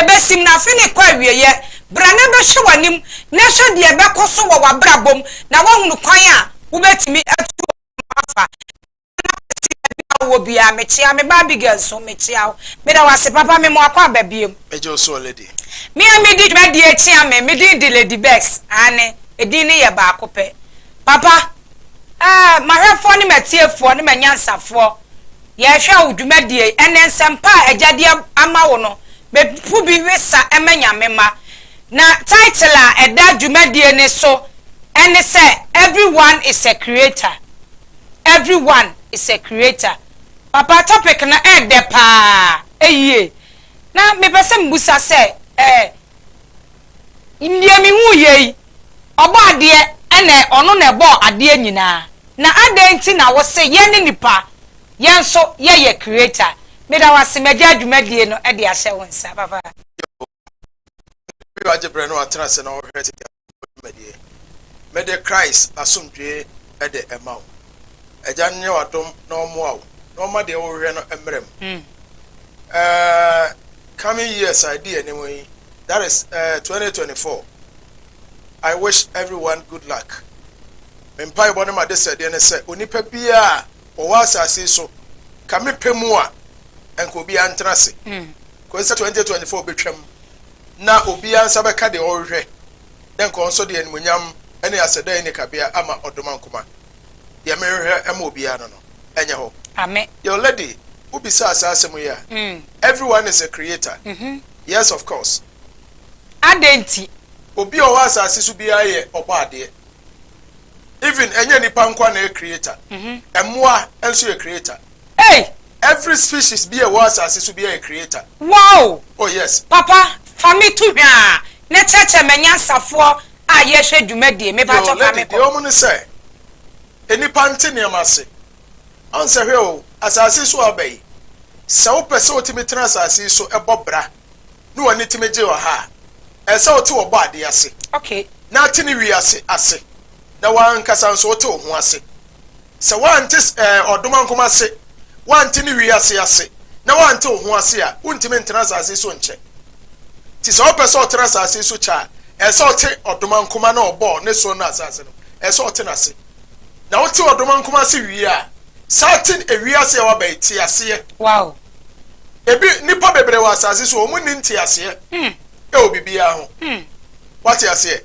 ebesim na afe no rekɔ awieeɛ. Bra na bɛhwɛ w'anim na hwɛ deɛ ɛbɛkɔ so wɔ w'abrabɔ mu na woahunu kwan a wobɛtumi atu wɔ ho afa. Bra na kɔsi baabi a wowɔ biara. Mekyea me ba Abigail nso. Mekyea wo. Meda wo ase papa. Mema wo akwaaba biom. Megye wo so Lady. Me a medi dwumadie kyea me. Me din de Lady Bex. Aane, edin no yɛ baako pɛ. Papa, eh, m'ahwɛfoɔ ne m'atiefoɔ ne m'anyansafoɔ. Yɛhwɛ wo dwumadie yi ɛne nsɛmpa a agya de ama wo no bɛpo bi we sa ma Nyame mma. Na title a ɛda dwumadie no so ɛne sɛ Everyone is a creator Everyone is a creator Papa topic no ɛɛdɛ paa ɛyie na mepɛ sɛ mebusa sɛ ɛɛ. Deɛ mehuu yei, Ɔbɔadeɛ na Ɔno na Ɛbɔɔ adeɛ nyinaa, na adɛn nti na wose yɛne nnipa, yɛn nso yɛyɛ Creator? Meda wo ase, magyaa dwumadie no de ahyɛ wo nsa, papa. Yehowa ne w'agye berɛ na watena ase na ɔrehwɛ tete asɛmpɔ dwumadie. Mede Christ asomdwoeɛ de rema wo. Agya no nyɛ w'adom na ɔmmoa wo na ɔmma deɛ worehwɛ no mmara mu. Aah. Coming years a ɛdi anim yi, that is, eh, 2024, I wish everyone good luck. Me mpaebɔ ne m'adesrɛdeɛ ne sɛ onipa biara a ɔwɔ asase yi so, ka me pɛ mu a, nka obiara ntena ase kɔsi sɛ 2024 bɛtwam, na obiara nsa bɛka deɛ ɔrehwehwɛ, dɛ nka ɔnsɔ deɛ animuonyam ne asɛdɛe ne kabea ama ɔdomankoma. deɛ merehwɛ ma obiara no no nyɛ hɔ. Amen. Yo lady wo bisaa saa asɛm yi a, everyone is a creator, yes of course. Adɛn nti? Obi a ɔwɔ asase so biara yɛ ɔbɔ adeɛ, even ɛnyɛ nipa nko ara na ɛyɛ creator, mmoa nso yɛ creator. Ei! Every species bi a ɛwɔ asase so biara yɛ creator. Wow! Oh yes. Papa, fa me to hwaa na kyerɛkyerɛ m'anyansafoɔ A yɛhwɛ dwumadie me pakyɛ fa me kɔ. Deɛ ɔmo ne sɛ nnipa nte nneɛma ase ɔn sɛ hwɛ o asaase yi so a ɔba yi sɛ wopɛ sɛ wotumi tena asaase yi so bɔ bra ne w'ani tumi gye wɔ ha a ɛsɛ wote wɔbɔ adeɛ ase na te ne wie ase ase na w'ankasa nso wote wo ho ase Sɛ woante ɔdomankoma ase, woante ne wiase ase, na woante wo ho ase a, wontumi ntena asase so nkyɛ. Nti sɛ ɔpɛ sɛ ɔtena asase so kyɛ a, ɛsɛ sɛ ɔte ɔdomankoma na ɔbɔɔ ne soro ne asase no, ɛsɛ sɛ ɔte n'ase. Na wote ɔdomankoma ase wie a, san te wiase a woaba yi te aseɛ. Wow! Ebi, nnipa bebree wɔ asase so a, wɔn nni nteaseɛ wɔ biribiara ho. Wate aseɛ?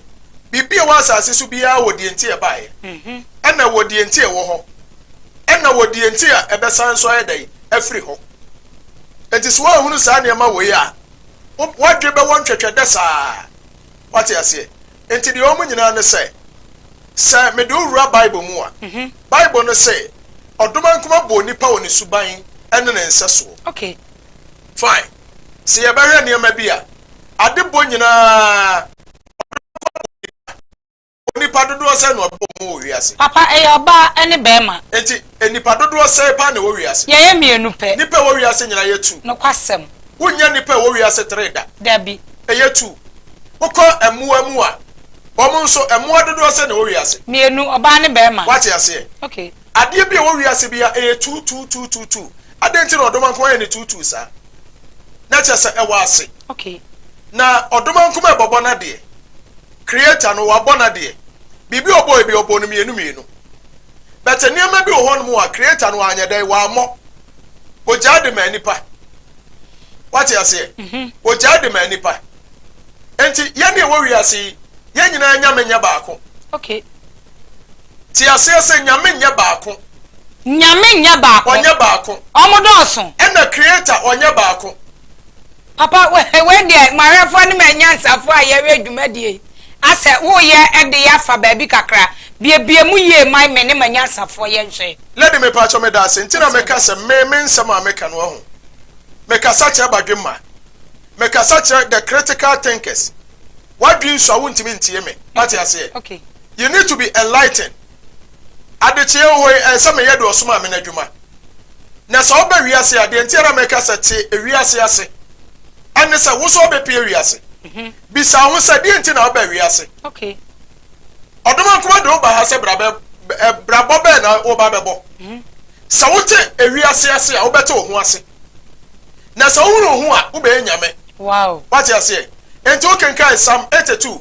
Biribi a ɛwɔ asase so biara wɔ deɛ nti a ɛbaeɛ, ɛna ɛwɔ deɛ nti a ɛwɔ hɔ, ɛna wɔ deɛ nti a ɛbɛsan nso ayɛ dɛn afiri hɔ. Enti sɛ woanhunu saa nneɛma wei a, w'adwene bɛwɔ ntwɛtwɛdɛ saa. Wate aseɛ? Enti deɛ wɔn nyinaa ne sɛ, sɛ mede wo wura Bible mu a, Bible no se, Ɔdomankoma bɔɔ nipa wɔ ne suban ne ne nsɛsoɔ. Fine. Se yɛbɛhwɛ nneɛma bi a, ade bɔ nyinaa ɔde bɛkɔ abɔ nnipa. Ɔbɔ nnipa dodoɔ sɛn na ɔbɔ wɔn wɔ wiase? Papa, ɛyɛ ɔbaa ne barima. Enti nnipa dodoɔ sɛn paa na ɛwɔ wiase? Yɛyɛ mmienu pɛ. Nnipa a ɛwɔ wiase nyinaa yɛ two. Nokwasɛm. Wonnya nnipa a ɛwɔ wiase three da. Dabi. Ɛyɛ two. Wokɔ mmoa mu a, wɔn nso, mmoa dodoɔ sɛn na ɛwɔ wiase? Mmienu, ɔbaa ne barima. Woate aseɛ? Okay. Adeɛ bi a ɛwɔ wiase biara ɛyɛ tuu tuu tuu tuu tuu adɛn nti na ɔdomankoma yɛ ne tuu tuu saa na kyerɛ sɛ ɛwɔ ase okay na ɔdomankoma ɛbɔbɔ nadeɛ creator no wabɔ nadeɛ biribi ɔbɔ ebi ɔbɔ no mmienu mmienu but nneɛma bi wɔ hɔ nom a creator no anyɛ dɛn wammɔ ogyaa de maa nipa wate aseɛ mhm. ogyaa de maa nipa nti yɛne ɛwɔ wiase yi yɛn nyinaa nyame nyɛ baako okay Te aseɛ sɛ, Nyame nyɛ baako. Nyame nyɛ baako. Ɔnyɛ baako. Ɔmo dɔɔso. Ɛna Creator ɔnyɛ baako. Papa wei deɛ moawerɛfoɔ ne m'anyansafoɔ a yɛyɛ dwumadie yi asɛ woyɛ de yɛ afa baabi kakra biebie mu yie ma me ne m'anyansafoɔ yɛ nhwɛ. Lady mepakyɛ medase nti na meka sɛ me me nsɛm a meka no wahu me kasa kyerɛ badwemma me kasa kyerɛ the critical thinkers wadwensua wontimi ntie me wate aseɛ. You need to be enlightened. Adekyeɛ wɔ hɔ yi, ɛnsɛ meyɛ deɛ ɔsomaa me no adwuma. Na sɛ ɔba wiase a, deɛ nti a na meka sɛ te ewiase ase ɛne sɛ wo nso wobɛpue wiase. Mhm. Bisa wo ho sɛ deɛ nti na woba wiase. Okay. Ɔdomankoma de woba ha sɛ bra bɛ bɛ- ɛ, brabɔ bɛn na woba bɛbɔ. Mhm. Sɛ wote ewiase ase a, wobɛte wo ho ase. Na sɛ wohunu wo ho a, wobɛyɛ nyame. Wow. Wate aseɛ? Enti wokenkan Psalm 82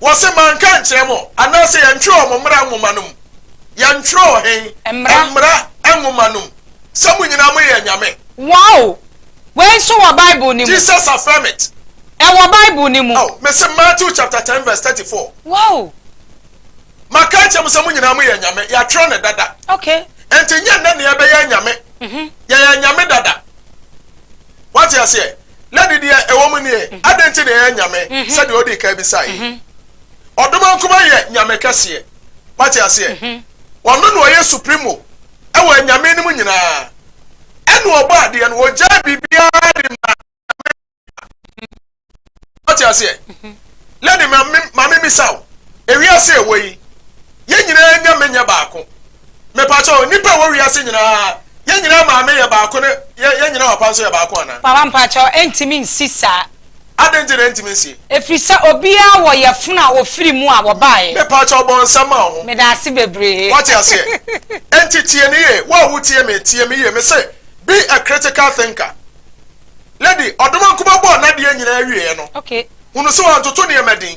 Wɔse manka ankyerɛ mo anaasɛ yɛntwerɛ wɔ mo mmara nwoma no mu? Yɛntwerɛ wɔ he? Mmara nwoma no mu? Sɛ mo nyinaa moyɛ anyame? Wow! Wei nso wɔ Bible no mu. Jesus affirm it. Ɛwɔ Bible no mu. Oh, mese Matthew chapter ten verse thirty four. Wow! Maka akyerɛ mo sɛ mo nyinaa moyɛ anyame. Yɛatwerɛ no dada. Okay. Enti nyɛ nnɛ na yɛbɛyɛ anyame. Mhm. Yɛyɛ anyame dada. Wate aseɛ? na ne deɛ ɛwɔ mu nie, adɛn nti na ɛyɛ nyame sɛdeɛ ɔdii kan bisaeɛ yi? Ɔdoma nkumaa yɛ nyame kɛseɛ. Wate aseɛ? Ɔno na ɔyɛ supremo ɛwɔ anyame no mu nyinaa. Ɛna ɔbɔ adeɛ no, ɔgyae biribiara de ma nyame. Ɔte aseɛ? Mhm. Lady maame misa wo, ewiase ɛwɔ yi, yɛn nyinaa nya menyɛ baako. Mepakyɛw, nnipa ɛwɔ wiase nyinaa, yɛn nyinaa maame yɛ baako ne yɛn nyinaa papa nso yɛ baako anaa? Papa mpakyɛw, ɛntumi nsi saa. Adɛn nti na ɛntumi nsie? Ɛfiri sɛ obiara wɔ yɛfono a ɔfiri mu a wɔbaeɛ. Mepakyɛw bɔ nsa ma wo ho. Meda ase bebree. Wate aseɛ? Ɛnti tie ne yie, wo a wotie me, tie me yie, mese, be a critical thinker. Lady Odomankoma bɔɔ n'adeɛ nyinaa wieɛ no, hunu sɛ wɔntoto nneɛma din.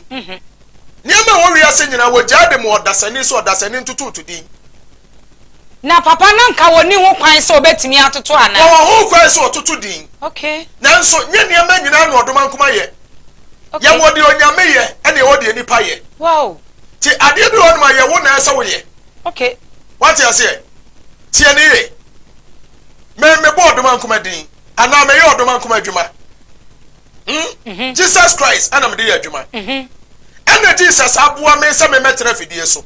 Nneɛma a ɛwɔ wiase nyinaa, wɔgyaa de maa ɔdasani, sɛ ɔdasani ntototo din. Na papa no anka wɔnni ho kwan sɛ wɔbɛtumi atoto anaa? Wɔwɔ ho kwan sɛ wɔtoto din. Nanso nyɛ nneɛma nyinaa na Odomankoma yɛ. Yɛwɔ deɛ Onyame yɛ, ɛna yɛwɔ deɛ nnipa yɛ. Nti adeɛ bi wɔ hɔnom a, ɛyɛ wo na ɛsɛ sɛ woyɛ. Woate aseɛ? Tie no yie. Me, mebɔɔ Odomankoma din. Anaa meyɛ ɔdɔ mankom adwuma hmm Jesus Christ ɛna mede yɛ adwuma ɛna Jesus aboa me sɛ memmɛtena afidie so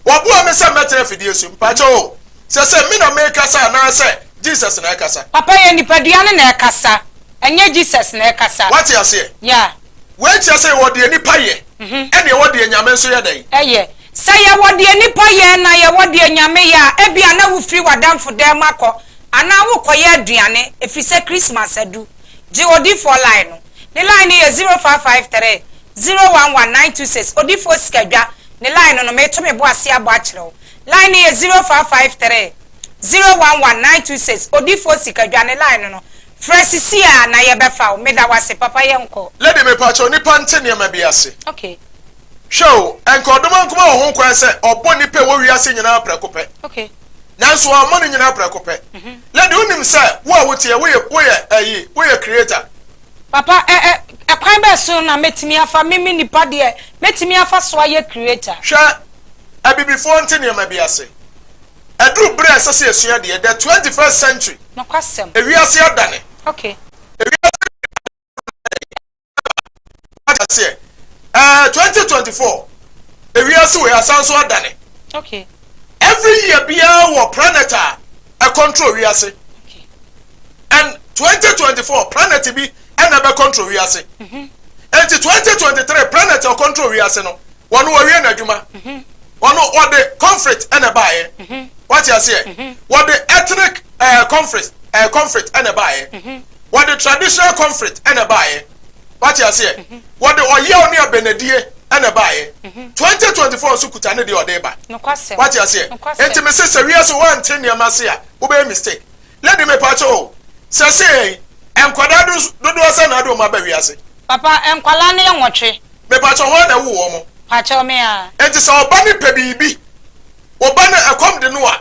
Waboa me sɛ mmɛtena afidie so mpakyɛ o sɛ sɛ me na mekasa anaasɛ Jesus na ɛkasa Papa yɛ nipadua no na ɛkasa ɛnyɛ Jesus na ɛkasa Wate aseɛ? Yeah. Wei kyerɛ sɛ yɛwɔ deɛ nipa yɛ ɛna yɛwɔ deɛ Nyame nso yɛ dɛn? Ɛyɛ. Sɛ yɛwɔ deɛ nipa yɛ na yɛwɔ deɛ Nyame yɛ a ebia na wofiri w'adamfo dan mu akɔ Anaa worekɔyɛ aduane efisɛ Christmas adu. Gye odifoɔ line no. Ne line no yɛ zero five five three, zero one one nine two six. Odifoɔ Sikadwa ne line no meto me bo ase abɔ akyerɛ wo. Line no yɛ zero five five three, zero one one nine two six. Odifoɔ Sikadwa ne line no no. Frɛ sisi ara na yɛbɛfa wo. Meda wo ase papa yɛnkɔ. Lady mepakyɛw nipa nte nneɛma bi ase Okay. hwɛ o ɛnka ɔdom anko ma wɔ ho kwan sɛ ɔbɔ nipa ɛwɔ wiase nyinaa prɛko pɛ. Okay. nanso ɔmmɔ ne nyinaa prɛko pɛ. Lady, wonim sɛ wo a woteɛ, woye, woyɛ ayi, woyɛ creator. Papa, ɛ, ɛ, ɛkwan bɛn so na mɛtumi afa, me, me nipa deɛ, mɛtumi afa so ayɛ creator? Hwɛ, Abibifoɔ nte nneɛma bi ase. Aduru berɛ a ɛsɛ sɛ yɛsua deɛ, the twenty first century. Nokwasɛm. Ewiase adane. Okay. Ewiase adane. wata seɛ ɛɛ eh, twenty twenty four ewiase wei asan so adane okay every year biara wɔ planet a ɛ control wiase okay and twenty twenty four planet bi ɛna bɛ control wiase mm-hmm. nti twenty twenty three planet ɛ control wiase no wɔn wɔ wie na adwuma mm-hmm. wɔn wɔde conflict ɛna baayɛ mm-hmm. wate aseɛ wɔde ethnic ɛɛ eh, conflict ɛɛ eh, conflict ɛna baayɛ. Wɔde traditional conflict ɛna ɛbaeɛ. Wate aseɛ? Wɔde ɔyaw ne abɛnadie ɛna ɛbaeɛ. 2024 nso kuta ne deɛ ɔde reba. Wate aseɛ? Enti mese sɛ wiase woante nneɛma ase a, wobɛyɛ mistake. Lady mepaakyɛ o, sɛsɛɛ yi, nkwadaa dodoɔ sɛn na wode wɔn aba wiase? Papa, nkwadaa no yɛ nwɔtwe. Mepaakyɛ hwan na ɛwoo wɔn? Paakyɛw, me ara. Enti sɛ ɔba no pɛ biribi, wo ba no ɛkɔm de no a,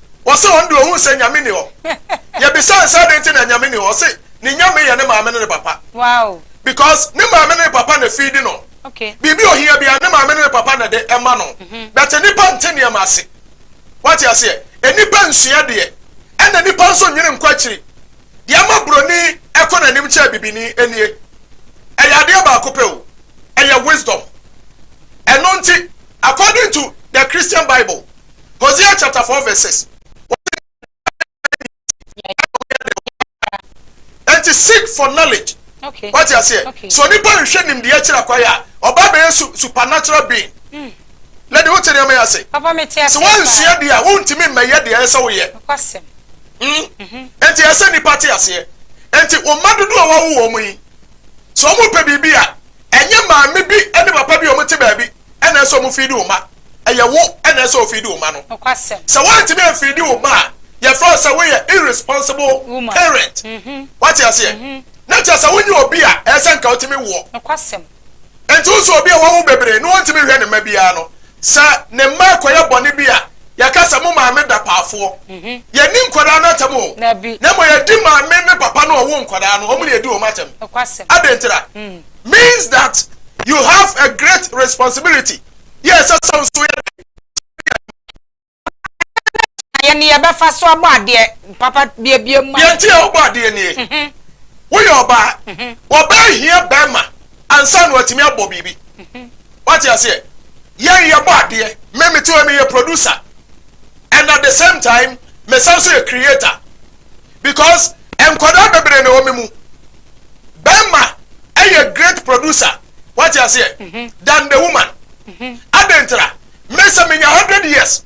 Ɔse ɔno deɛ ɔhu sɛ Nyame nni hɔ. Yɛbisaa no sɛ adɛn nti na Nyame nni hɔ? Ɔse ne Nyame yɛ ne maame ne ne papa. Because ne maame ne ne papa na feedi no. Biribi a ɔhia biara ne maame ne ne papa na ɛde ɛma no. But nnipa nte nneɛma ase. Wate aseɛ? Nnipa nsua deɛ. Ɛna nnipa nso nwene nkɔ akyiri. Deɛ ama broni ɛkɔ n'anim kyɛɛ bibini nie. Ɛyɛ adeɛ baako pɛ o. Ɛyɛ wisdom. Ɛno nti according to the Christian Bible, Hosea chapter four verse six. Enti seek for knowledge. Okay. Wati aseɛ. Okay. So nipa nhwɛ nimdeɛ akyiri akwaye a ɔba abɛyɛ su supernatural being. Mm. Lady wote nneɛma yɛ ase. Papa mi te ase. Sɛ wɔnsua deɛ a wontumi mmɛyɛ deɛ ɛsɛ woyɛ. Nkwasɛm. Mm. Mhm. Enti ɛsɛ nipa te aseɛ. Enti wɔn mma dodo a wɔawo wɔn yi sɛ wɔn pɛ biribi a ɛnyɛ maame bi ne papa bi a wɔn te baabi ɛna ɛsɛ wɔn fi di wɔn mma. ɛyɛ wo na ɛsɛ sɛ ofeedi wo mma no. Sɛ woantumi amfeedi wo mma a, yɛfrɛ wo sɛ woyɛ irresponsible parent. Woate aseɛ? Na kyerɛ sɛ wonyɛ obi a ɛyɛ sɛ nka wotumi woɔ. Enti wo sɛ obi a wawo bebree na ɔntumi nhwɛ ne mma biara no, sɛ ne mma rekɔyɛ bɔne bi a, yɛka sɛ mo maame da paafoɔ. Yɛnni nkwadaa no atɛm o, na mmom yɛdi maame ne papa no a ɔwoo nkwadaa no, wɔn na yɛdi wɔn atɛm. Adɛn ntira? Means that you have a great responsibility. yɛ ɛsɛ sɛ nso yɛ dɛn kyɛ yɛn ho? Yɛn ne yɛbɛfa so abɔ adeɛ papa biebie ma. Deɛ nti a wobɔ adeɛ nie, woyɛ ɔbaa, ɔbaa hia barima ansa na watumi abɔ biribi. Wate aseɛ? Yɛn yɛbɔ adeɛ, me mete hɔ meyɛ producer and at the same time mesan nso yɛ creator because nkwadaa bebree na ɛwɔ me mu. Barima yɛ great producer. Wate aseɛ? Than the woman. Adɛn ntira? Me sɛ menya hundred years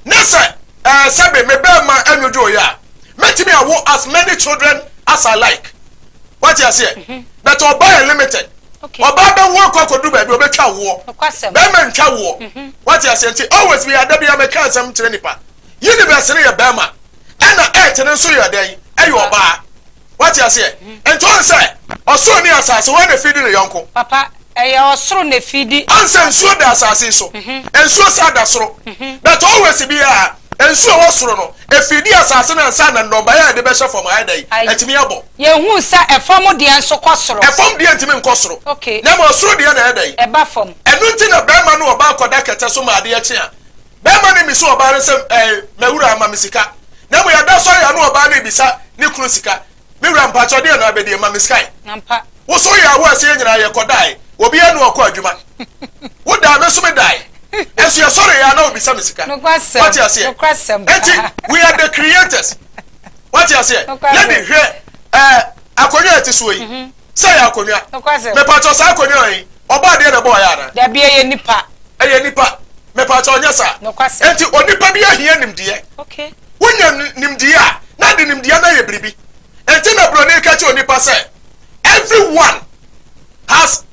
ne sɛ ɛɛ sɛbe me bɛɛma ɛnwodwooeɛ a, mɛtumi awo as many children as I like. Wate aseɛ? But ɔbaa yɛ limited. Ɔbaa bɛwo akɔ akɔduru baabi ɔbɛtwa woɔ. Bɛɛma ntwa woɔ. Wate aseɛ? Nti always me ada biara meka asɛm kyerɛ nipa. Universe no yɛ bɛɛma ɛna earth no nso yɛ dɛn? Ɛyɛ ɔbaa. Wate aseɛ? Nti woahu sɛ, ɔsoro ne asase, hwan na ɛfiri di ne yɔnko? Papa, ɛyɛ ɔsoro na ɛfiri di asase. Woahu sɛ nsuo da asase yi so, nsuo saa da soro. But always biara, nsuo a ɛwɔ soro no, ɛfiri di asase no ansa na nnɔbaeɛ a yɛde bɛhyɛ fam ha ayɛ dɛn? Atumi abɔ. Yɛhu sɛ ɛfam deɛ nso kɔ soro. Ɛfam deɛ ntumi nkɔ soro. Okay. Na mmom ɔsoro deɛ na ɛyɛ dɛn? Ɛba fam. Ɛno nti na barima ne ɔbaa kɔda kɛtɛ so ma adeɛ kye a, Bɛɛma no mmiso ɔbaa no sɛ ɛɛ mɛwura ma me sika na mmom yɛda sɔre a na ɔbaa no rebisa ne kunu sika me wura mpakyɛw deɛ na abɛdeɛ ma me skae wo so yɛ awo aseɛ nyinaa yɛ kɔ dae obiara ne ɔkɔ adwuma wo daa me nso me dae ɛso yɛ sɔre yɛ ana obisa me sika wate aseɛ enti we are the creators wate aseɛ lady hwɛ ɛɛ akonnwa ɛte soɔ yi. Sɛ ɛyɛ akonnwa. Nokwasɛm. Mepakyɛw, saa akonnwa yi, ɔbɔ adeɛ na ɛbɔɔ yɛ anaa? Dabi, ɛyɛ nipa. Ɛyɛ nipa. Mepakyɛw, nyɛ saa. Nokwasɛm. Enti onipa bi ahia nimdeɛ. Okay. Wonya nimdeɛ a, na ɛde nimdeɛ no ayɛ biribi. Enti na Buroni reka kyerɛ onipa sɛ, Everyone has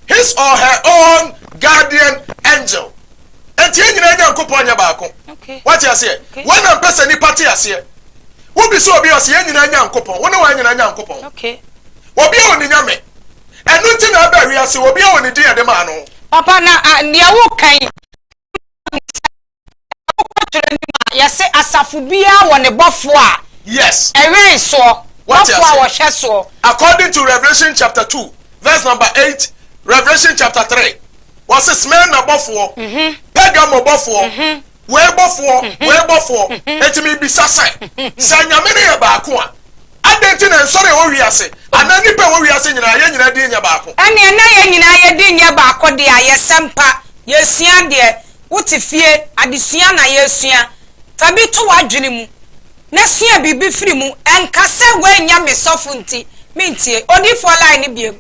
his or her own guardian angel. Enti yɛn nyinaa Nyankopɔn nyɛ baako. Wate aseɛ? Wei na mpɛ sɛ nnipa te aseɛ. Wobisa obi a ɔse yɛn nyinaa Nyankopɔn. Wo ne wɔn nyinaa Nyankopɔn. Obi a ɔni Nyame. Ɛno nti na ɛbaa wiase. Obi a ɔni din a yɛde maa no. Papa, na deɛ woka yi, wokɔtwerɛ nim a, yɛse asafo biara wɔ ne bɔfoɔ a ɛwɛn soɔ, bɔfoɔ a wɔhwɛ soɔ. According to Revelation chapter 2 verse number 8, Revelation chapter 3 Wɔse Smirna bɔfoɔ, Pergamo bɔfoɔ, wei bɔfoɔ, wei bɔfoɔ. Enti mebisa sɛ, sɛ Nyame no yɛ baako a, adɛn nti na nsɔre a ɛwɔ wiase anaa nnipa a ɛwɔ wiase nyinaa, yɛn nyinaa din nyɛ baako? Ɛneɛ na yɛn nyinaa yɛn din nyɛ baako deɛ a, yɛsɛ mpa, yɛsua adeɛ, wote fie, adesua na yɛresua. Fa bi to w'adwene mu na sua biribi firi mu. Ɛnka sɛ woannya me sɔfo nti mentie Odiyifoɔ line no biom.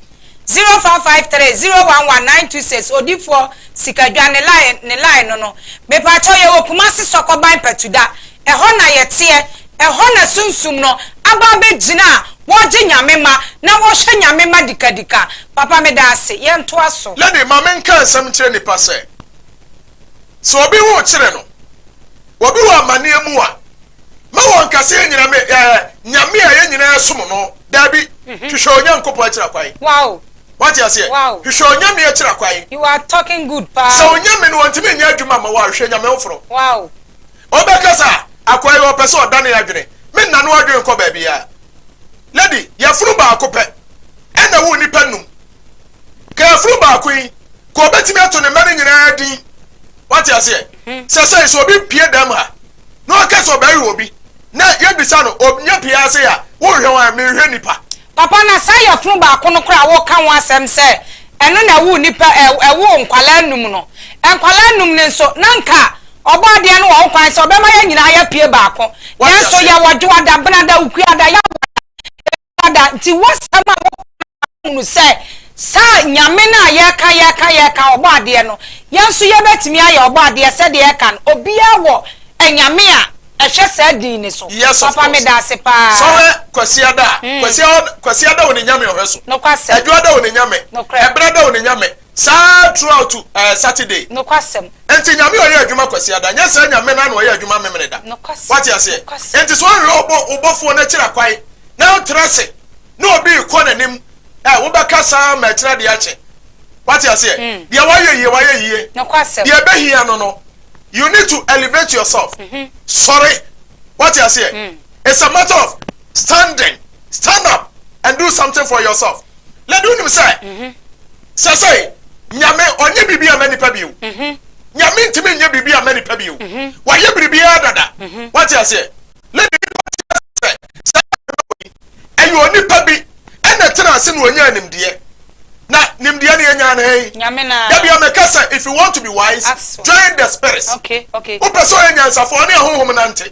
zero four five three zero one one nine two six odifoɔ sikadwa ne line ne line no no mepakyɛw yɛwɔ kumasi sɔkɔban patuda ɛhɔ na yɛteɛ ɛhɔ na sunsum no aba abɛgyina a wɔgye nyame ma na wɔhwɛ nyame mma dikadika papa medaase yɛntoa so. Lady ma menka nsɛm nkyerɛ nipa sɛ Sɛ obi ho kyere no, obi wɔ amaneɛ mu a, ma wɔnka sɛ yɛnyina me ɛɛ Nyame a yɛn nyinaa som no. Daabi, mhm. hwehwɛ Onyankopɔn akyira kwan. Wow. Wate aseɛ? Wow. Hwehwɛ Onyame akyira kwan. You are talking good paa. Sɛ Onyame no wɔntumi nyɛ adwuma ma wɔ a, hwehwɛ Nyame foforɔ. Wow. Ɔbɛka sɛ akwaa yi ɔpɛ sɛ ɔdane adwene, me nna no adwene nkɔ baabiara. Lady, yɛfono baako pɛ ɛna wo nnipa num. Kafiri baako yi, nka ɔbɛtumi ato ne mma no nyinaa din. Wate aseɛ? Sɛ sɛn sɛ obi pie dam ha, na ɔka sɛ ɔbɛwe obi, na yɛbisa no, ɔnya pie ha sei a, worehwɛ hwan? Merehwɛ nnipa. Papa, na saa yafunu baako no koraa a woreka ho asɛm sɛ ɛno na ɛwoo nnipa, ɛwoo nkwadaa nnum no, nkwadaa nnum no nso, na nka Ɔbɔadeɛ no wɔ ho kwan sɛ ɔbɛma yɛn nyinaa yɛapue baako. Nanso yɛwɔ Dwoada, Benada, Okuada, Yawoada, Father, nti w'asɛm a woka no ma mahunu sɛ saa Nyame no a yɛka yɛka yɛka, ɔbɔ adeɛ no, yɛn nso yɛbɛtumi ayɛ ɔbɔ adeɛ sɛdeɛ ɛka no, obiara wɔ anyame a ɛhwɛ saa din no so. Yes of course. Papa meda ase paa. Sɔhwɛ Kwasiada a, Kwasiada, Kwasiada wɔ ne Nyame a ɔhwɛ so. Nokwasɛm. Adwoada wɔ ne Nyame. Nokorɛ. Ɛberada wɔ ne Nyame. Saa throughout eh Saturday. Nokwasɛm. Enti Nyame ɔyɛ adwuma Kwasiada nyɛ saa Nyame no ano ɔyɛ adwuma Memeneda wate aseɛ enti sɛ ɔnhwɛ ɔbɔ wobɔfoɔ no akyira kwan na ɔntra se ne obi rekɔ nanim eh wobɛka saa ma akyira deɛ akye wate aseɛ deɛ wayɛ yie wayɛ yie deɛ ɛbɛhia no no you need to elevate yourself sɔre wate aseɛ it's a matter of standing stand up and do something for yourself. Lady wonim sɛ sɛsɛi Nyame ɔnyɛ biribi ama nipa bio. Nyame ntimi nyɛ biribi ama nipa bio. Wayɛ biribiara dada. Wate aseɛ? Lady wote aseɛ sɛ saa Bible yi ɛyɛ onipa bi ɛna tena ase na ɔnyaa nimdeɛ. Na nimdeɛ no yɛnyaa no hɛn? Nyame no ara. Dabia meka sɛ if you want to be wise join the spirits. Wopɛ sɛ ɔyɛ nyansafoɔ ɔne ahonhom nante.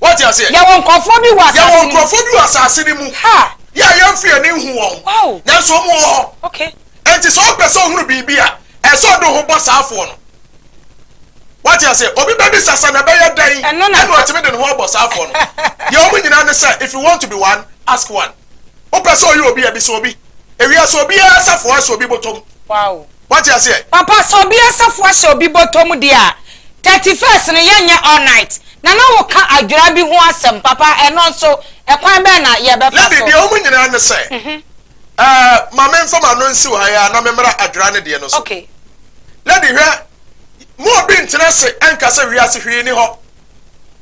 Wate aseɛ? Yɛwɔ nkurɔfoɔ bi wɔ asase no mu. Yɛwɔ nkurɔfoɔ bi wɔ asase no mu. Ha. Yɛ a yɛn firi ani nhu wɔn. Wow. Nanso wɔn wɔ hɔ. Okay. Enti sɛ ɔpɛ sɛ ɔhunu biribi a, ɛsɛ sɛ ɔde ho bɔ saa afoɔ no. Wate aseɛ? Obi bɛbisa sɛ na ɛbɛyɛ dɛn ɛna ɔtumi de ne ho abɔ saa afoɔ no. Deɛ wɔn nyinaa ne sɛ, if you want to be one, ask one. Wopɛ sɛ ɔyɛ obi a, bisa obi. Ewia, sɛ obi asa fo ahyɛ obi bɔtɔ mu. Wate aseɛ? Papa, sɛ obi asa fo ahyɛ obi bɔtɔ mu deɛ a, thirty first no, yɛnyɛ all night. Na na woka adwera bi ho asɛm. Papa, ɛno nso, ɛkwan bɛn na yɛbɛfa so? Lady, deɛ wɔn nyinaa ne sɛ, eh, ma memfa m'ano nsiw ha yi ara na memmra adwera no deɛ no so. Lady, hwɛ, mo obi ntena ase nka sɛ wiase hwee nni hɔ.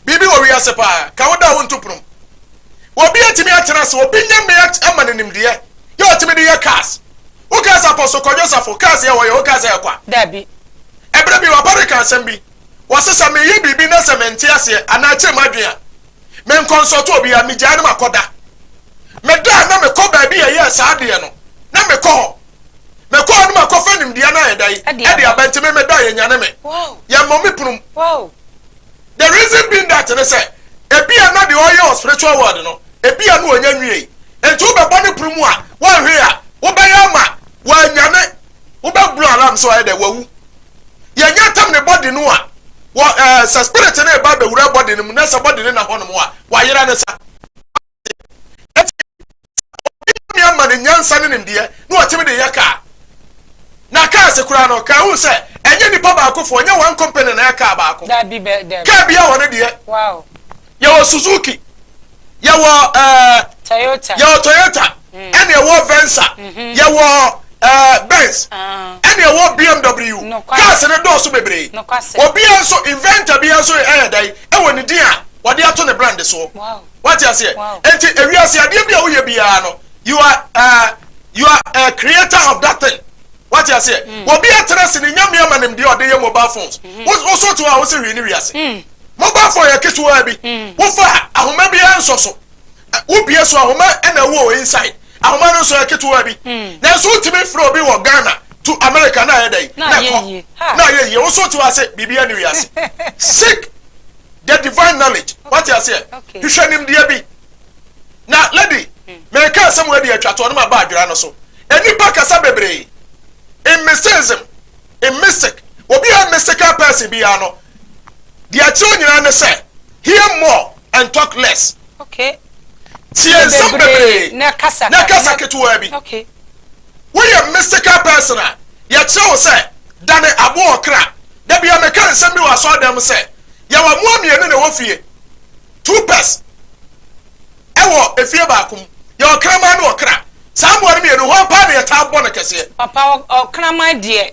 biribi wɔ wiase paa. Ka wo dɔ a wonto pono mu. Obi atumi atena ase, obi nya mmea ama no nimdeɛ, yɛ ɔtumi de yɛ cars. Wokaa sɛ Apostle Kwadwo Safo, cars yɛ wɔyɛ, wokaa sɛ ɛkwa. Dabi. Ɛberɛ bi w'aba reka asɛm bi, wɔse sɛ meyɛ biribi na sɛ mente aseɛ anaa ɛkyere m'adwene a, me nkɔnsɔto obiara, megyae na makɔda. Meda a na mekɔ baabi a ɛyɛɛ saa adeɛ no, na mekɔ hɔ. Mekɔ hɔ no makɔfa nimdeɛ no ayɛ dɛn? De aba nti me medɔ yɛ nyane me. Yɛ mmɔ me punum. The reason being that ne sɛ ebia na deɛ ɔyɛ wɔ spiritual world no ebia no ɔnya nwiei. Nti wobɛbɔ ne pono mu a wɔnhwee a wobɛyɛ ama wɔanyane. Wobɛ blow alarm so ayɛ dɛn? Wawu. Yɛnyɛ ntam ne body no a wɔ ɛɛ sɛ spirit no reba abɛwura body no mu na sɛ body no na hɔ nom a wayera ne sa. ɛti sɛ obi nyame ama ne nyansa ne nimdeɛ na ɔtumi de yɛ kaa na kaa se koraa no kaa hu sɛ ɛnyɛ nipa baakofoɔ nyɛ one company na yɛ kaa baako kaa bi a wɔne deɛ yɛwɔ Suzuki yɛwɔ ɛɛ yɛwɔ Toyota mm. ɛne ɛwɔ Venza mm-hmm. yɛwɔ ɛɛ Benz ah. ɛne ɛwɔ BMW kaa se ne dɔɔso bebree obiara nso inventor biara nso ɛyɛ dɛn ɛwɔ ne din a wɔde ato ne brand soɔ. Wate aseɛ? Enti ewiase adeɛ bi a woyɛ biara no, you are uh, you are a creator of that thing. Wate aseɛ? Mm. Obi atena se ne nyame ama nim deɛ ɔde yɛ mobile phones. Mm-hmm. Woso to a wose hwee ne wiase. Mm. Mobile phone yɛ ketewa bi. Mm. Wofa ahoma bi ansɔ so. Wobie so ahoma ɛna ɛwɔ inside. Ahoma no nso yɛ ketewa bi. Mm. Nanso wotumi frɛ obi wɔ Ghana to America na ayɛ dɛ. Na ayɛ yie. Na ayɛ yie. Woso to ase biribi ani wiase. Sick the divine knowledge wate aseɛ hwehwɛ nimdeɛ bi na lady hmm. mɛka asɛm wɔ adi atwa toɔ no ma ba adwera no so nnipa kasa bebree in mysticism in mystic obi a mystical person biara no deɛ ɛkyerɛ nyinaa ne sɛ hear more and talk less okay. tie nsɛm bebree na kasa ketewa bi okay. Woyɛ mystical person a, yɛkyerɛ wo sɛ dane aboa ɔkra. Da bi a mekae nsɛm bi wɔ asɔredan mu sɛ, Yɛwɔ mmoa mmienu na ɛwɔ fie, two pairs wɔ efie baako mu. Yɛwɔ kraman ne ɔkra. Saa mmoa no mmienu, hwan paa na yɛtaa bɔ no kɛseɛ? Papa, ɔkraman deɛ,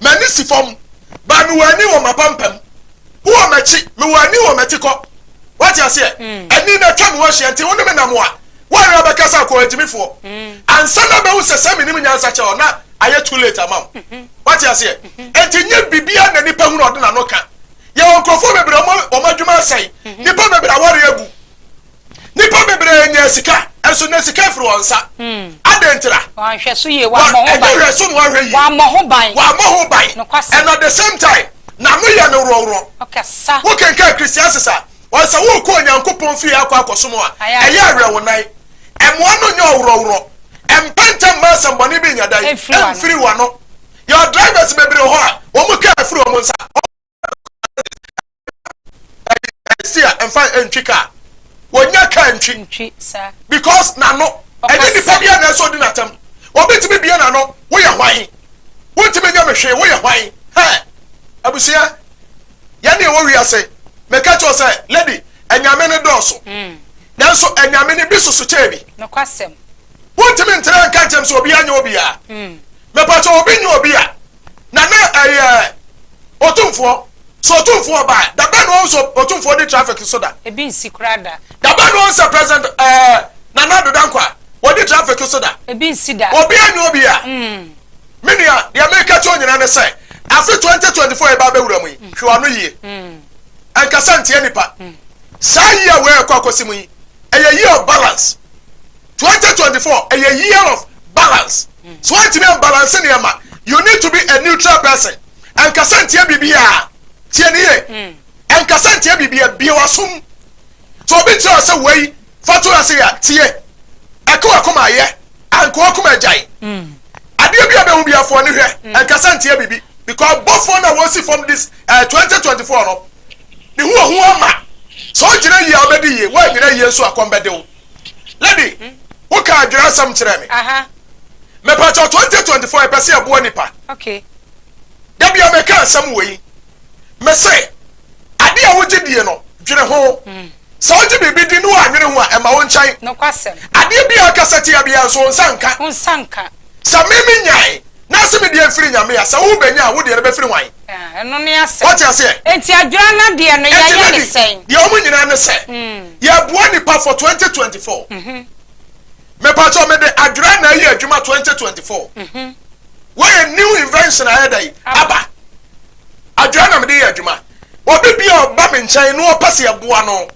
M'ani si fam, but mewɔ ani wɔ m'apampam. Wowɔ m'akyi, mewɔ ani wɔ m'atikɔ. Wate aseɛ? Ani na atwa me ho ahyia, nti wo ne me nam a, woanwene abɛka sɛ akoa agyimifoɔ. Ansa na bɛhu sɛ sɛ menim nyansa kyɛ hɔ, na ayɛ too late ama wo. Wate aseɛ? Nti nyɛ biribiara na nipa hu na ɔde n'ano ka. Yɛwɔ nkurɔfoɔ bebree a wɔn adwuma asɛe, nipa bebree aware abu. Nnipa bebree nya sika, nso na sika firi wɔn nsa. Hmm. Adɛn ntira? Wɔanhwɛ so yie, wɔammɔ ho ban. Ɛnyɛ hwɛ so na wɔahwɛ yie. Wɔammɔ ho ban. Wɔammɔ ho ban. Nokwasɛm. And at the same time, n'ano yɛ no worɔworɔ. Ɔkasa. Wokenkan Christiansis a, wɔn sɛ wokɔ Onyankopɔn fie akɔ akɔsom a, ɛyɛ awerɛwonan. Ɛmoa no nyɛ ɔworɔworɔ. Ɛmpɛ ntɛm ma asɛmmɔne bi nyɛ dɛn? Ɛmfiri w'ano. Yɛwɔ drivers bebree hɔ a, wɔn kaa firi wɔn nsa. ɛsi a ɛnfa ntwi kaa wɔnya kaa ntwi ntwi sa because n'ano ɛnyɛ nipa bi a na ɛsɛ ɔdi n'atam obi tumi bie n'ano woyɛ hwan wontumi nyɛ me hwee woyɛ hwan hɛ abusua yɛn ne ɛwɔ wiase mɛka kyerɛ sɛ lady ɛnyame ne dɔɔso hmm. nanso ɛnyame ne bi soso kyɛɛ bi wontumi ntere nka nkyɛm sɛ obiara nyɛ obiara hmm. mɛpa kyɛ obi nyɛ obi a na na ɛyɛ Otumfoɔ. Sɛ Otumfoɔ ɔba a, da bɛn na wɔn sɛ Otumfoɔ di traffic so da? Ebi nsi koraa da. Da bɛn na wɔn sɛ President ɛɛ Nana Addo Dankwa ɔdi traffic so da? Ebi nsi da. Obiara nni obiara. Me nua, deɛ mereka akyerɛ wo nyinaa ne sɛ, afe 2024 a yɛreba abɛwura mu yi, hwɛ w'ano yie. Ɛnkasa ntia nnipa. Saa year wei a ɛrekɔ akɔsi mu yi, ɛyɛ year of balance. twenty twenty four ɛyɛ year of balance so wantumi anbalanse nneɛma you need to be a neutral person ɛnkasa ntia biribiara tie ne yie ɛnkasa ntia biribiara bie wasom so obi kyerɛ wo sɛ wei fa to ase yɛ tie ɛka wakoma ayɛ anka wakoma agyae adeɛ bi a bɛhu bi afoɔ ne hwɛ ɛnkasa ntia biribi because bɔfoɔ no a wɔsi fam this uh, twenty twenty four no ne ho ɔho ama sɛ ɔgyina yie a ɔbɛdi yie wɔanyina yie nso akɔm bɛde wo Lady, wo kaa adwira asɛm kyerɛɛ me. Mepakyɛw 2024 yɛ pɛ sɛ yɛboa nipa. Da bia me ka asɛm wei. Me se, ade a wogye die no, dwene ho. Hmm. Sɛ wogye biribi di ne woanwene ho a, ɛma wo nkyɛn. Adeɛ bia akasa tia bia nso wo nsa nka. Sɛ me me nyae, na se me deɛ mfiri Nyame a, sɛ wo bɛnya a, wo deɛ no bɛfiri hwan? Ah, ɛno ne asɛm. Wate aseɛ? Enti adwera no deɛ no, Enti yɛyɛ ne Lady, sɛn? deɛ wɔn nyinaa ne sɛ, yɛboa nnipa for 2024. Mepakyɛw, mede adwera na ayi adwuma 2024. Woayɛ new invention a ɛyɛ dɛn? Aba. Adwera na mede yɛ adwuma. Obi biara a ɔba me nkyɛn na ɔpɛ sɛ yɛboa no,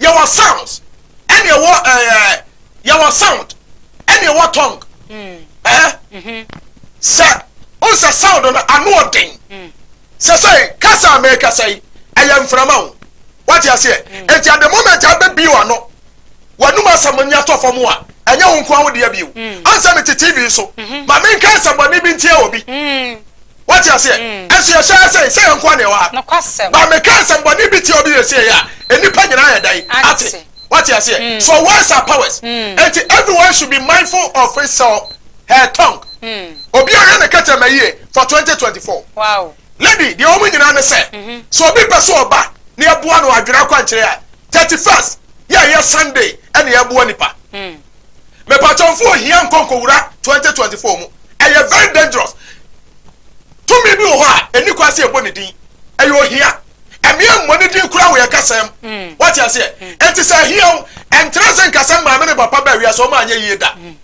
yɛwɔ sounds ɛne ɛwɔ ɛɛ yɛwɔ sound ɛne ɛwɔ tongue ɛɛ sɛ o sɛ sound no ano ɔden sɛ sɛ kasa a mɛkasa yi ɛyɛ mframa o wate aseɛ eti at the moment a bɛ bio ano wɔnum asɛm ni atɔ fam a ɛnyɛ wɔn nko ahodeɛ bio ansa mi ti tv so maame nka asɛmɔni bi ntia obi. Woate aseɛ? Ɛnso yɛhyɛ ha sɛ, sɛ yɛn nko ara na yɛwɔ ha. But meka nsɛmmɔne bi tia obi wie sieɛ a, nnipa nyinaa yɛ dɛn ate? Woate aseɛ? So words are powers. Enti everyone should be mindful of his or her tongue. Obiara nhwɛ ne kɛtrɛma yie for twenty twenty four. Lady, deɛ ɛwɔ mu nyinaa ne sɛ, sɛ obi pɛ sɛ ɔba na yɛboa no adwene akwankyerɛ a, thirty first yɛ a ɛyɛ Sunday na yɛboa nnipa. Me pakyɛw mfa ohia nkɔ nkowura twenty twenty four mu. Ɛyɛ very dangerous. Tumi bi wɔ hɔ a, ɛni kwan sɛ yɛbɔ ne din. Ɛyɛ ohia. Ɛme yɛ mmɔ ne din koraa wɔ yɛn kasɛɛ mu. Mm. Wate aseɛ? Mm. Ɛnti sɛ ahia wo, ɛntra sɛ nka sɛ maame ne papa bɛ awia sɛ ɔma anyɛ yie da. Mm.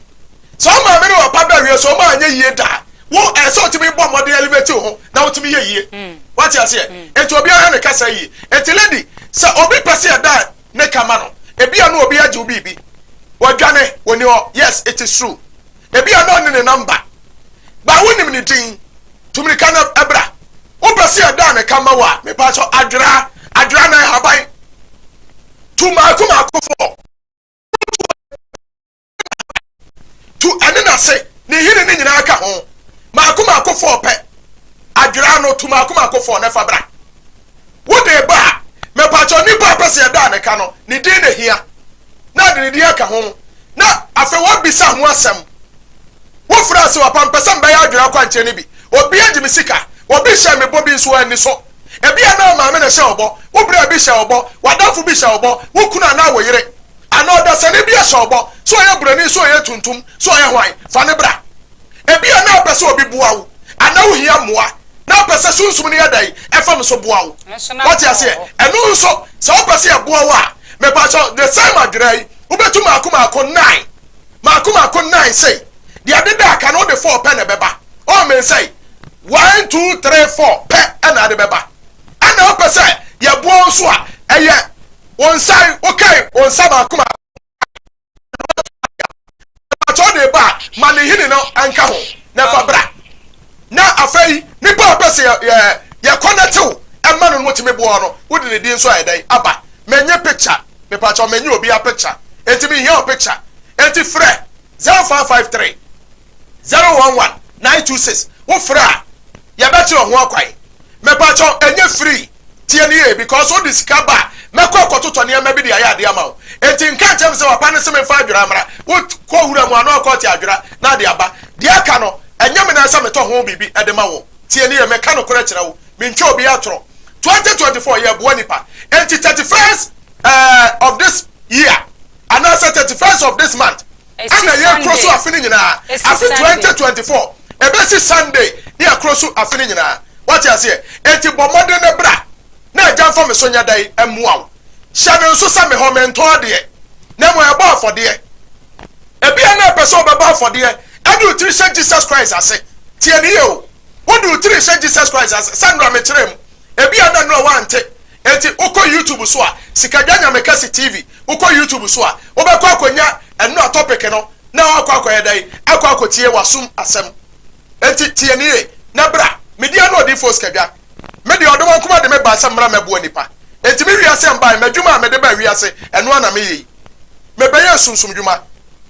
Sɛ ɔmaame ne papa bɛ awia sɛ ɔma anyɛ yie da. Wo ɛsɛ eh, ɔtumi bɔ mmɔden elevate wo ho na wotumi yɛ yie. Wate aseɛ? Ɛnti obiara ne kasa yie. Ɛnti lady, sɛ obi pɛ sɛ yɛda ne ka ma no ebia no obi agye wo biribi wadwane wɔni hɔ yes it is true ebia no ɔne ne namba ba wonim ne din tumirika no ɛbra wopɛ sɛ ɛda ne ka ma wo a mepa kyɛ adwera adwera na ɛhaban tu maako maako fɔ tu ɛne n'ase ne nhini no nyinaa ka ho maako maako fɔɔ pɛ adwera ano tu maako maako fɔɔ na fa bra wode ba a mɛpakyɛ nipa a pɛ sɛ yɛda a ne ka no ne din na hia na ade ne din aka ho na afei wɔbisa ho asɛm wofiri ase wɔpa mpɛ sɛ mbɛyɛ adwera akwankyerɛ no bi obi agye me sika obi hyɛ me bɔ bi nso anni so ebi a na maame na hyɛ ɔbɔ wo bere bi hyɛ ɔbɔ wadamfo bi hyɛ ɔbɔ wo kunu anaa wo yere Anaa ɔdasani bi ahyɛ wo bɔ, sɛ ɔyɛ buroni, sɛ ɔyɛ tuntum, sɛ ɔyɛ hwan, fa no bra. Ebia na wopɛ sɛ obi boa wo, anaa wuhia mmoa, na wopɛ sɛ Sunsum no yɛ dɛn? Ɛfam so boa wo. Woate aseɛ? Ɛno nso, sɛ wopɛ sɛ ɛboa wo a, mepakyɛw, the same adwera yi, wobɛtu mmaako mmaako nnan, mmaako mmaako nnan sei, deɛ ɛdeda a, ka no, wode four pɛ na ɛbɛba. Oh, men sɛe. One, two, three, four pɛ na ade bɛba. Ɛnna wopɛ sɛ yɛboa wo nso a, ɛyɛ Wo nsa yi, wokae wo nsa baako ma na kyɛ wode ba a, ma ne nhini no nka ho na fa bra. Na afei nnipa a pɛ sɛ yɛ yɛkɔ na tew ɛma no no wɔtumi boa no, wode ne din nso ayɛ dɛn aba. Mennye picture, mepa kyɛw mennye obiara picture, enti menhia wo picture, enti frɛ 0553. Zero one one nine two six wo frɛ a yɛbɛkyerɛ ho akwan mepakyɛw ɛnyɛ free tie no yie because wode sika ba a mɛkɔ akɔtotɔ nneɛma bi de ayɛ adeɛ ama wo enti nka nkyɛn me sɛ wapa no se memfa adwera mmra wo kɔ wura mu ano akɔte adwera na ade aba deɛ aka no ɛnyɛ me nan sɛ metɔ ho biribi de ma wo tie no yie meka nokorɛ kyerɛ wo mentwa obi atorɔ twenty twenty four yɛboa nipa enti thirty first ɛɛ eh, of this year anaasɛ thirty first of this month ɛna yɛkoro so afe no nyinaa, afe 2024 ɛbɛsi Sunday ne akoro so afe no nyinaa, wate aseɛ, enti bɔ mmɔden na bra na Agya mfa me so nyɛ dɛn mmoa wo, hyɛ no nso sɛ mehɔ mentɔn adeɛ na mmom ɛbɔ afɔdeɛ, ebia na ɛpɛ sɛ ɔbɛbɔ afɔdeɛ ɛde wo tiri hyɛ Jesus Christ ase, tie no yie o, wode wo tiri hyɛ Jesus Christ ase sɛ nora mekyerɛɛ mu, ebia na nora wante. Enti wokɔ YouTube so a, Sikadwa Nyamekɛse TV, wokɔ YouTube so a, wobɛkɔ akɔnya ɛno a topic no na woakɔ akɔyɛ dɛn? Akɔ akɔtie w'asom asɛm. Enti tie no yie na bra. Me din ane Odiyifoɔ Sikadwa. Me deɛ ɔdɔ wankum ade me bae sɛ mmra mmɛboa nnipa. Enti me wiase mbae, m'adwuma a mede baa wiase ɛno ara na meyɛ yi. Mebɛyɛɛ sunsum dwuma,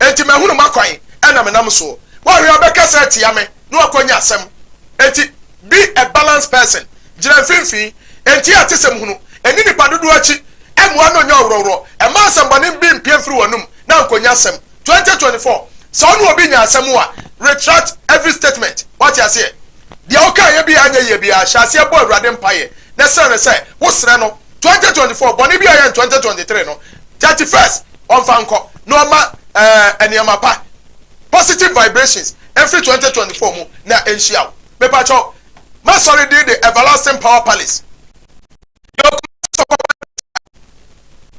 enti mahunu m'akwan na menam soɔ. Woahwɛ a wobɛkasa atia me na woakɔnya asɛm. Enti. Be a balanced person, Gyina mfimfini, ntie atesɛm hunu, nni nnipa dodoɔ akyi, mmoa na ɔnyɛ ɔworɔworɔ, mma asɛmmɔne bi mpue mfiri w'anom na nkɔnya asɛm. Twenty twenty four, Sɛ wo ne obi nya asɛm a, retract every statement. Woate aseɛ? Deɛ wokaeɛ biara anyɛ yie biara, hyɛ aseɛ bɔ Awurade mpaeɛ na srɛ no sɛ wosrɛ no. Twenty twenty four, Bɔne bi a ɔyɛɛ no twenty twenty three no, thirty first ɔmfa nkɔ na ɔmma ɛɛ nneɛma pa, positive vibrations, mfiri twenty twenty four mu na ɛnhyia wo. mepakyɛw m'asɔre din de Everlasting Power Palace. Yɛwɔ Kumasi Sɔkɔ Baipetuda.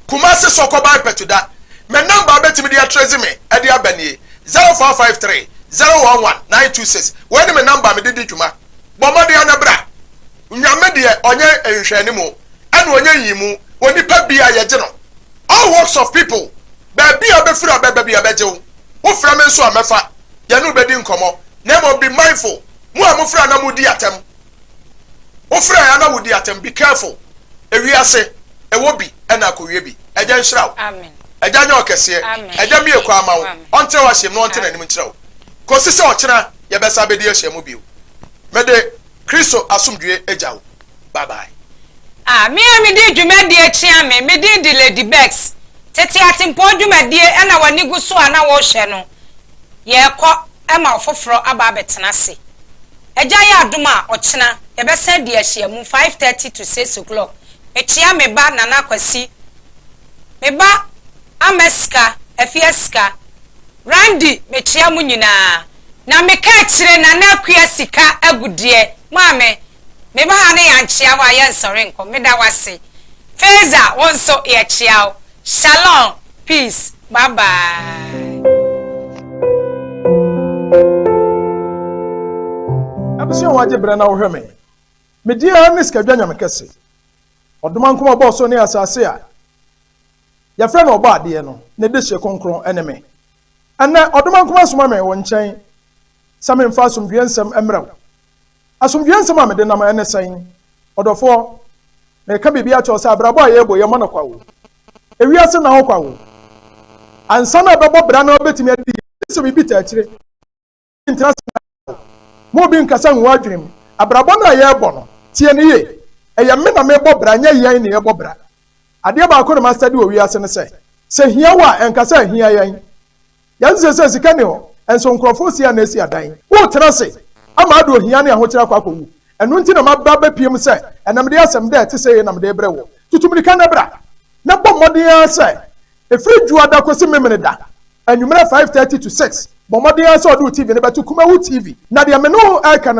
Kumasi Sɔkɔ Baipetuda. Me number a betumi de atrɛzi me ɛde aba nie, zero four five three zero one one nine two six. Wei ne me number a mede di dwuma. Bɔ mmɔden ara na bra. Nyame deɛ ɔnyɛ nhwɛanimu, ɛna ɔnyɛ nyiyimu. Onipa biara yɛgye no. All walks of people, baabi a bɛfiri a bɛba biara bɛgye wo. Wofrɛ me nso a mɛfa. yɛne wo bɛdi nkɔmmɔ, na mmom be mindful, mo a mofrɛ a na modi atɛm, wofrɛ a na wodi atɛm, be careful, ewiase, ɛwɔ bi ɛna akowie bi, Agya nhyira wo, Agya nyɛ ɔkɛseɛ, Agya mmie kwan ma wo, ɔntrɛ w'ahyiam na ɔnte n'anim nkyerɛ wo, kɔsi sɛ ɔkyena yɛbɛsan abɛdi ahyiam bio, mede Kristo asomdwoeɛ gya wo. Bye bye. A Me a mede dwumadie akyea me, me din de Lady Bex. Tete atempɔn dwumadie na w'ani gu so a na worehwɛ no. Yɛrekɔ ma ɔfoforɔ aba abɛtena ase. Agya yɛ adom a, ɔkyena, yɛbɛsan adi ahyiamu, five thirty to six o'clock. Mekyea me ba Nana Kwasi, me ba Amasika, Afiasika, Randy, mekyea mo nyinaa. Na meka akyire Nana Akua Sika Agudeɛ, Maame, Me ba ha ne yɛankyea wo a yɛnsɔre nkɔ. Meda wo ase. Feza, wo nso yɛkyea wo. Shalom, peace, bye bye. Ɛmɛ sɛ wɔagye berɛ na wohwɛ me. Medi ara ne sikadwa nyame kɛse. Ɔdoma nko ɔbɔɔ so ne asase a yɛfrɛ no ɔbɔ adeɛ no ne dehyeɛ kronkron ne me. Ɛnnɛ ɔdoma nko asoma me wo nkyɛn sɛ memfa asomdwoeɛ nsɛm mmrɛ wo. Asomdwoeɛ nsɛm a mede nam ɛnnɛ sɛn? Ɔdɔfoɔ, mereka biribi akyerɛ wo sɛ abrabɔ a yɛrebɔ yi, ɛmmɔ no kwa o. Ewiase nna hɔ kwa o. Ansa na ɛbɛbɔ bra na wobɛtumi adi yie, gye sɛ biribi taa akyire. Obi ntena ase nna da o. Ma obi nkasa ngu w'adwene mu. Abrabɔ no a yɛrebɔ no, tie no yie, ɛyɛ me na merebɔ bra, ɛnyɛ yɛn na yɛrebɔ bra. Adeɛ baako na mastadi wɔ wiase no sɛ, sɛ hia wɔ a, ɛnka sɛ ahia yɛn. Yɛate sɛ sɛ sika nni hɔ nso nkurɔfo resia na asi adan. Woretena ase ama ade ohia ne ahokyere akɔ akowu. Ɛno nti na maba abɛpiem sɛ ɛnnɛ mede asɛm dɛ ɛte sɛi na mede rebrɛ wo. Tutu mmirika na bra, na bɔ mmɔden ara sɛ ɛfiri Dwoada kɔsi Memeneda anwummerɛ 5:30 to 6, bɔ mmɔden ara sɛ wode wo TV no bɛto Kumawu TV. Na deɛ me ne wo reka no.